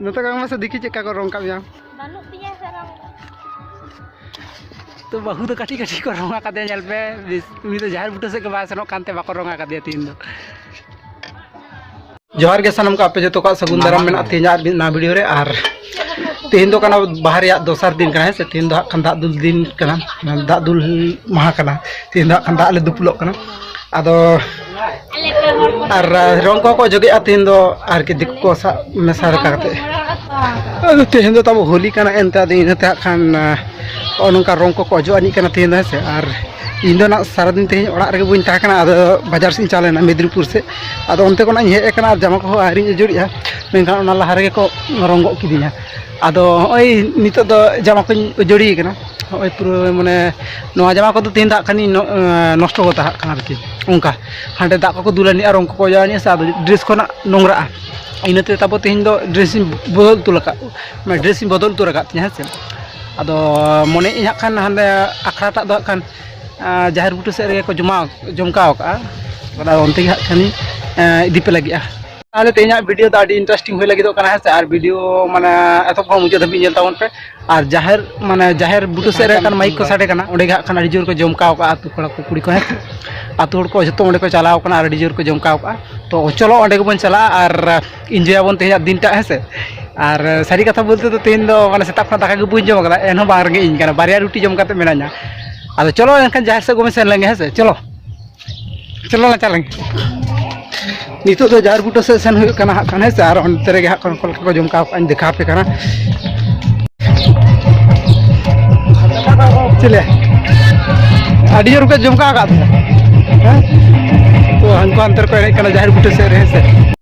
ᱱᱚᱛᱮ ᱠᱟᱜ ᱢᱮᱥᱮ ᱫᱤᱠᱤ ᱪᱮᱫ ᱠᱟ ᱠᱚ ᱨᱚᱝ ᱠᱟᱜ ᱢᱮᱭᱟ ᱵᱟᱹᱱᱩᱜ ᱛᱤᱧᱟ ᱥᱮ ᱨᱚᱝ ᱛᱚ ᱵᱟᱹᱦᱩ ᱫᱚ ᱠᱟᱹᱴᱤᱡ ᱠᱟᱹᱴᱤᱡ ᱠᱚ ᱨᱚᱝ ᱟᱠᱟᱫᱮᱭᱟ ᱧᱮᱞ ᱯᱮ ᱩᱱᱤ ᱫᱚ ᱡᱟᱦᱮᱨ ᱵᱩᱴᱟᱹ ᱥᱮᱫ ᱜᱮ ᱵᱟᱭ ᱥᱮᱱᱚᱜ ᱠᱟᱱᱛᱮ ᱵᱟᱠᱚ ᱨᱚᱝ ᱟᱠᱟᱫᱮᱭᱟ ᱛᱤᱦᱤᱧ ᱫᱚ ᱡᱚᱦᱟᱨ ᱜᱮ ᱥᱟᱱᱟᱢ ᱠᱚ ᱟᱯᱮ ᱡᱚᱛᱚ ᱠᱚᱣᱟᱜ ᱥᱟᱹᱜᱩᱱ ᱫᱟᱨᱟᱢ ᱢᱮᱱᱟᱜ ᱛᱤᱧᱟ ᱟᱨ ᱢᱤᱫ ᱱᱟᱣᱟ ᱵᱷᱤᱰᱤᱭᱳ ᱨᱮ ᱟᱨ ᱛᱤᱦᱤᱧ ᱫᱚ ᱠᱟᱱᱟ ᱵᱟᱦᱟ ᱨᱮᱭᱟᱜ ᱫᱚᱥᱟᱨ ᱫᱤᱱ ᱠᱟᱱᱟ ᱦᱮᱸ ᱥᱮ ᱛᱤᱦᱤᱧ ᱫᱚ ᱦᱟᱸᱜ ᱠᱷᱟᱱ ᱫᱟᱜ ᱫᱩᱞ ᱫᱤᱱ ᱠᱟᱱᱟ ᱫᱟᱜ ᱫᱩᱞ ᱢᱟᱦᱟ ᱠᱟᱱᱟ ᱛᱤᱦᱤᱧ ᱫᱚ ᱦᱟᱸᱜ ᱠᱷᱟᱱ ᱫᱟᱜ ᱞᱮ ᱫᱩᱯᱩᱞᱚᱜ ᱠᱟᱱᱟ ᱟᱫᱚ ᱟᱨ ᱨᱚᱝ ᱠᱚᱠᱚ ᱚᱡᱚᱜᱮᱜᱼᱟ ᱛᱮᱦᱮᱧ ᱫᱚ ᱟᱨᱠᱤ ᱫᱤᱠᱩ ᱠᱚ ᱥᱟᱵ ᱢᱮᱥᱟ ᱨᱟᱠᱟ ᱠᱟᱛᱮ ᱟᱫᱚ ᱛᱮᱦᱮᱧ ᱫᱚ ᱛᱟᱵᱚ ᱦᱳᱞᱤ ᱠᱟᱱᱟ ᱮᱱᱛᱮ ᱟᱫᱚ ᱤᱱᱟᱹᱛᱮ ᱦᱟᱸᱜ ᱠᱷᱟᱱ ᱱᱚᱜᱼᱚ ᱱᱚᱝᱠᱟ ᱨᱚᱝ ᱠᱚᱠᱚ ᱚᱡᱚᱜ ᱟᱹᱱᱤᱡ ᱠᱟᱱᱟ ᱛᱮᱦᱮᱧ ᱫᱚ ᱦᱮᱸ ᱥᱮ ᱟᱨ ᱤᱧ ᱫᱚ ᱱᱟᱜ ᱥᱟᱨᱟᱫᱤᱱ ᱛᱮᱦᱮᱧ ᱚᱲᱟᱜ ᱨᱮᱜᱮ ᱵᱟᱹᱧ ᱛᱟᱦᱮᱸ ᱠᱟᱱᱟ ᱟᱫᱚ ᱵᱟᱡᱟᱨ ᱥᱮᱫ ᱤᱧ ᱪᱟᱞᱟᱣ ᱞᱮᱱᱟ ᱢᱮᱫᱽᱱᱤᱯᱩᱨ ᱥᱮᱫ ᱟᱫᱚ ᱚᱱᱛᱮ ᱠᱷᱚᱱᱟᱜ ᱤᱧ ᱦᱮᱡ ᱟᱠᱟᱱᱟ ᱟᱨ ᱡᱟᱢᱟ ᱠᱚᱦᱚᱸ ᱟᱹᱣᱨᱤᱧ ᱟᱹᱪᱩᱨᱮᱜᱼᱟ ᱢᱮᱱᱠᱷᱟᱱ ᱚᱱᱟ ᱞᱟᱦᱟ ᱨᱮᱜᱮ ᱠᱚ ᱨᱚᱝ ᱜᱚᱫ ᱠᱤᱫᱤᱧᱟ ᱟᱫᱚ ᱦᱚᱸᱜᱼᱚᱭ ᱱᱤᱛᱚᱜ ᱫᱚ ᱡᱟᱢᱟ ᱠᱚᱧ ᱩᱡᱟᱹᱲᱤ ᱠᱟᱱᱟ ᱦᱚᱸᱜᱼᱚᱭ ᱯᱩᱨᱟᱹ ᱢᱟᱱᱮ ᱱᱚᱣᱟ ᱡᱟᱢᱟ ᱠᱚᱫᱚ ᱛᱮᱦᱮᱧ ᱫᱚ ᱦᱟᱸᱜ ᱠᱷᱟᱱᱤᱧ ᱱᱚᱥᱴᱚ ᱠᱟᱛᱟ ᱦᱟᱸᱜ ᱠᱷᱟᱱ ᱟᱨᱠᱤ ᱚᱱᱠᱟ ᱦᱟᱸᱰᱮ ᱫᱟᱜ ᱠᱚᱠᱚ ᱫᱩᱞ ᱟᱹᱱᱤᱡᱼᱟ ᱨᱚᱝ ᱠᱚᱠᱚ ᱚᱡᱚᱜ ᱟᱹᱱᱤᱡᱼᱟ ᱥᱮ ᱟᱫᱚ ᱰᱨᱮᱥ ᱠᱚ ᱱᱟᱜ ᱱᱳᱝᱨᱟᱜᱼᱟ ᱤᱱᱟᱹᱛᱮ ᱛᱟᱨᱯᱚᱨ ᱛᱮᱦᱮᱧ ᱫᱚ ᱰᱨᱮᱥᱤᱧ ᱵᱚᱫᱚᱞ ᱩᱛᱟᱹᱨ ᱟᱠᱟᱫ ᱢᱟᱱᱮ ᱰᱨᱮᱥᱤᱧ ᱵᱚᱫᱚᱞ ᱩᱛᱟᱹᱨ ᱟᱠᱟᱫ ᱛᱤᱧᱟᱹ ᱦᱮᱸ ᱥᱮ ᱟᱫᱚ ᱢᱚᱱᱮᱭᱮᱫ ᱟᱹᱧ ᱦᱟᱸᱜ ᱠᱷᱟᱱ ᱦᱟᱸᱰᱮ ᱟᱠᱷᱲᱟ ᱴᱟᱜ ᱫᱚ ᱦᱟᱸᱜ ᱠᱷᱟᱱ ᱡᱟᱦᱮᱨ ᱵᱩᱴᱟᱹ ᱥᱮᱫ ᱨᱮᱜᱮ ᱠᱚ ᱡᱚᱢᱟᱣ ᱡᱚᱢᱠᱟᱣ ᱠᱟᱜᱼᱟ ᱟᱫᱚ ᱚᱱᱛᱮ ᱜᱮ ᱦᱟᱸᱜ ᱠᱷᱟᱱᱤᱧ ᱤᱫᱤ ᱯᱮ ᱞᱟᱹᱜᱤᱫᱼᱟ ᱛᱟᱦᱚᱞᱮ ᱛᱮᱦᱮᱧᱟᱜ ᱵᱷᱤᱰᱤᱭᱳ ᱫᱚ ᱟᱹᱰᱤ ᱤᱱᱴᱟᱨᱮᱥᱴᱤᱝ ᱦᱩᱭ ᱞᱟᱹᱜᱤᱫᱚᱜ ᱠᱟᱱᱟ ᱦᱮᱸ ᱥᱮ ᱟᱨ ᱵᱷᱤᱰᱤᱭᱳ ᱢᱟᱱᱮ ᱮᱛᱚᱦᱚᱵ ᱠᱷᱚᱱ ᱢᱩᱪᱟᱹᱫ ᱫᱷᱟᱹᱵᱤᱡ ᱧᱮᱞ ᱛᱟᱵᱚᱱ ᱯᱮ ᱟᱨ ᱡᱟᱦᱮᱨ ᱢᱟᱱᱮ ᱡᱟᱦᱮᱨ ᱵᱩᱴᱟᱹ ᱥᱮᱫ ᱨᱮ ᱠᱟᱱ ᱢᱟᱭᱤᱠ ᱠᱚ ᱥᱟᱰᱮ ᱠᱟᱱᱟ ᱚᱸᱰᱮ ᱜᱮ ᱦᱟᱸᱜ ᱠᱷᱟᱱ ᱟᱹᱰᱤ ᱡᱳᱨ ᱠᱚ ᱡᱚᱢᱠᱟᱣ ᱠᱟᱜᱼᱟ ᱟᱛᱳ ᱠᱚᱲᱟ ᱠᱚ ᱠᱩᱲᱤ ᱠᱚ ᱦᱮᱸ ᱥᱮ ᱟᱛᱳ ᱦᱚᱲ ᱠᱚ ᱡᱚᱛᱚ ᱚᱸᱰᱮ ᱠᱚ ᱪᱟᱞᱟᱣ ᱠᱟᱱᱟ ᱟᱨ ᱟᱹᱰᱤ ᱡᱳᱨ ᱠᱚ ᱡᱚᱢᱠᱟᱣ ᱠᱟᱜᱼᱟ ᱛᱚ ᱪᱚᱞᱚ ᱚᱸᱰᱮ ᱜᱮᱵᱚᱱ ᱪᱟᱞᱟᱜᱼᱟ ᱟᱨ ᱤᱱᱡᱚᱭᱟᱵᱚᱱ ᱛᱮᱦᱮᱧᱟᱜ ᱫᱤᱱᱴᱟᱜ ᱦᱮᱸ ᱥᱮ ᱟᱨ ᱥᱟᱹᱨᱤ ᱠᱟᱛᱷᱟ ᱵᱚᱞᱛᱮ ᱫᱚ ᱛᱮᱦᱮᱧ ᱫᱚ ᱢᱟᱱᱮ ᱥᱮᱛᱟᱜ ᱠᱷᱚᱱ ᱫᱟᱠᱟ ᱜᱮ ᱵᱟᱹᱧ ᱡᱚᱢ ᱠᱟᱫᱟ ᱮᱱᱦᱚᱸ ᱵᱟᱝ ᱨᱮᱸᱜᱮᱡ ᱤᱧ ᱠᱟᱱᱟ ᱵᱟᱨᱭᱟ ᱨᱩᱴᱤ ᱡᱚᱢ ᱠᱟᱛᱮ ᱢᱮᱱᱟᱧᱟ ᱟᱫᱚ ᱪᱚᱞᱚ ᱮᱱᱠᱷᱟᱱ ᱡᱟᱦᱮᱨ ᱥᱮᱫ ᱜᱮᱵᱚᱱ ᱥᱮᱱ ᱞᱮᱱᱜᱮ ᱦᱮᱸ ᱥᱮ ᱪᱚᱞᱚ ᱪᱚᱞᱚ ᱞᱟᱝ ᱪᱟᱞᱟᱜ ᱱᱤᱛᱚᱜ ᱫᱚ ᱡᱟᱦᱮᱨ ᱵᱩᱴᱟᱹ ᱥᱮᱫ ᱥᱮᱱ ᱦᱩᱭᱩᱜ ᱠᱟᱱᱟ ᱦᱟᱸᱜ ᱠᱷᱟᱱ ᱦᱮᱸ ᱥᱮ ᱟᱨ ᱚᱱᱛᱮ ᱨᱮᱜᱮ ᱦᱟᱸᱜ ᱠᱷᱟᱱ ᱚᱠᱟ ᱞᱮᱠᱟ ᱠᱚ ᱡᱚᱢ ᱠᱟᱣ ᱠᱟᱜᱼᱟᱧ ᱫᱮᱠᱷᱟᱣ ᱟᱯᱮ ᱠᱟᱱᱟ ᱪᱮᱞᱮ ᱟᱹᱰᱤ ᱡᱳᱨ ᱠᱚ ᱡᱚᱢ ᱠᱟᱣ ᱠᱟᱜ ᱯᱮᱭᱟ ᱦᱮᱸ ᱛᱚ ᱦᱟᱱᱠᱩ ᱦᱟᱱᱛᱮ ᱨᱮᱠᱚ ᱮᱱᱮᱡ ᱠᱟᱱᱟ ᱡᱟᱦᱮᱨ ᱵᱩᱴᱟᱹ ᱥᱮᱫ ᱨᱮ ᱦᱮᱸ ᱥᱮ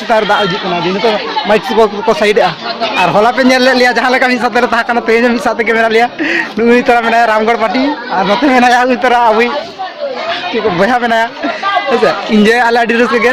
ᱥᱮᱛᱟᱜ ᱨᱮ ᱫᱟᱜ ᱦᱤᱡᱩᱜ ᱠᱟᱱᱟ ᱫᱤᱱ ᱱᱤᱛᱚᱜ ᱢᱟᱭᱤᱠ ᱠᱚ ᱠᱚ ᱥᱟᱭᱤᱰᱮᱜᱼᱟ ᱟᱨ ᱦᱚᱞᱟ ᱯᱮ ᱧᱮᱞ ᱞᱮᱫ ᱞᱮᱭᱟ ᱡᱟᱦᱟᱸ ᱞᱮᱠᱟ ᱢᱤᱫ ᱥᱟᱶᱛᱮ ᱞᱮ ᱛᱟᱦᱮᱸ ᱠᱟᱱᱟ ᱛᱮᱦᱮᱧ ᱦᱚᱸ ᱢᱤᱫ ᱥᱟᱶ ᱛᱮᱜᱮ ᱢᱮᱱᱟᱜ ᱞᱮᱭᱟ ᱱᱩᱭ ᱛᱚᱨᱟ ᱢᱮᱱᱟᱭᱟ ᱨᱟᱢᱜᱚᱲ ᱯᱟᱴᱤ ᱟᱨ ᱱᱚᱛᱮ ᱢᱮᱱᱟᱭᱟ ᱩᱱᱤ ᱛᱚᱨᱟ ᱟᱵᱚᱭᱤᱡ ᱪᱮᱫ ᱠᱚ ᱵᱚᱭᱦᱟ ᱢᱮᱱᱟᱭᱟ ᱦᱮᱸᱥᱮ ᱤᱱᱡᱚᱭ ᱟᱞᱮ ᱟᱹᱰᱤ ᱨᱟᱹᱥᱠᱟᱹ ᱜᱮ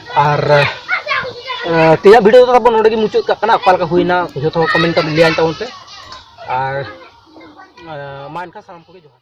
ᱟᱨ ᱛᱮᱦᱮᱧᱟᱜ ᱵᱷᱤᱰᱤᱭᱳ ᱫᱚ ᱛᱟᱵᱚᱱ ᱱᱚᱰᱮ ᱜᱮ ᱢᱩᱪᱟᱹᱫ ᱠᱟᱜ ᱠᱟᱱᱟ ᱚᱠᱟ ᱞᱮᱠᱟ ᱦᱩᱭᱱᱟ ᱡᱚᱛᱚ ᱦᱚᱲ ᱠᱚᱢᱮᱱᱴ ᱠᱟᱛᱮ ᱞᱟᱹᱭᱟᱹᱧ ᱛᱟᱵᱚᱱ ᱯᱮ ᱟᱨ ᱢᱟ ᱮᱱᱠᱷᱟᱱ ᱥᱟᱱᱟᱢ ᱠᱚᱜᱮ ᱡᱚᱦᱟᱨ